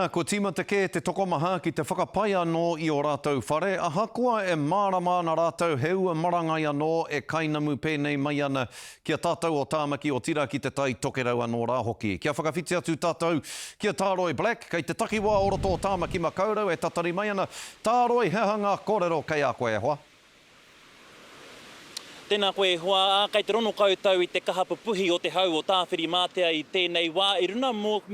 Ā, kua tīmata kē te tokomaha ki te whakapai anō i ō rātou whare, ahakoa e mārama ana rātou he ua marangai anō e kainamu pēnei mai ana ki a tātou o Tāmaki, otirā ki te Tai Tokerau anō rā hoki. Kia whakawhiti atu tātou ki a Tāroi Black, kei te takiwā o roto o Tāmaki Makaurau e tatari mai ana, Tāroi, he aha ngā kōrero kei a koe e hoa? Tēnā koe e hoa, ā, kei te rono koutou i te kaha pupuhi o te hau o Tāwhirimātea i tēnei wā, i runa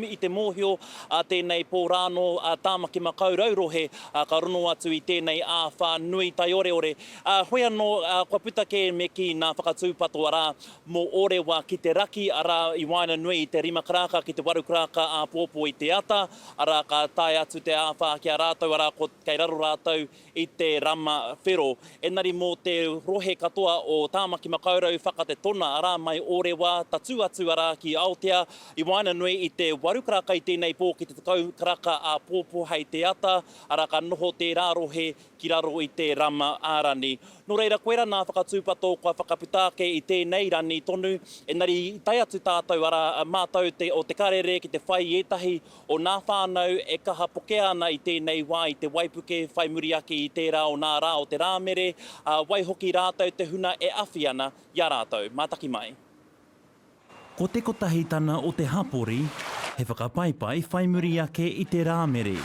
i te mōhio a tēnei pō rānō a Tāmaki Makau Rau Rohe, ā, ka rono atu i tēnei āwhā nui taioreore, ā, hoi anō, ā, kua puta kē me kī nā Whakatūpato arā, mō Orewa ki te raki, arā, i waena nui i te rima karaka ki te waru karaka āpōpō i te ata, arā, ka tae atu te āwhā ki a rātou, arā, ko, kei raro rātou, i te rama whero. Enari mo te rohe katoa o Tamaki Makaurau whakate tona ara mai Orewa tatu atu ara ki Aotea i waenanui i te waru karaka i tenei po ki te tekau karaka a popo hei te ata ara ka noho tera rohe ki raro i te rama a rani. No reira koera na whakatupato kua whakapita ake i tenei rani tonu enari i tae atu tatou ara matou te o te karere ki te whai i etahi o ngā whānau e kaha pokea ana i tēnei wā, i te waipuke, whai muri ake i tērā o ngā rā o te Rāmere, ā, waihoki rātou te huna e awhi ana i a rātou. Mātaki mai. Ko te kotahitanga o te hapori he whakapaipai whai muri ake i te Rāmere,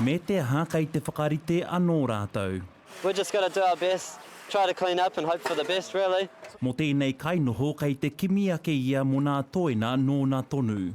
me te aha kei te whakarite anō rātou. We're just going to do our best, try to clean up and hope for the best, really. Mō tēnei kainoho kei te kimi ake ia mō nā toena nōna tonu.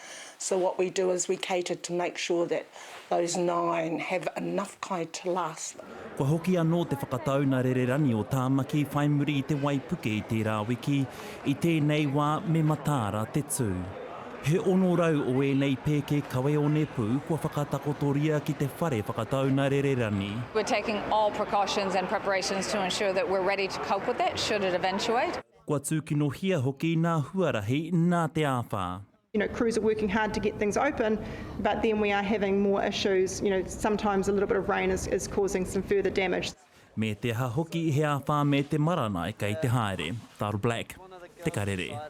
So what we do is we cater to make sure that those nine have enough kai to last them. Kua hoki anō te whakatau na Rererani o Tāmaki whai muri i te waipuke i tērā wiki, i tēnei wā me mataara te tū. He 600 o ēnei pēke kawe onepū kua whakatakotoria ki te whare whakatau na Rererani. We're taking all precautions and preparations to ensure that we're ready to cope with that should it eventuate. Kua tūkinohia hoki nā huarahi nā te āwhā. You know, crews are working hard to get things open, but then we are having more issues, you know, sometimes a little bit of rain is is causing some further damage. Me te aha hoki he āwhā me te maranai kei te haere, Darryl Black, Te Karere.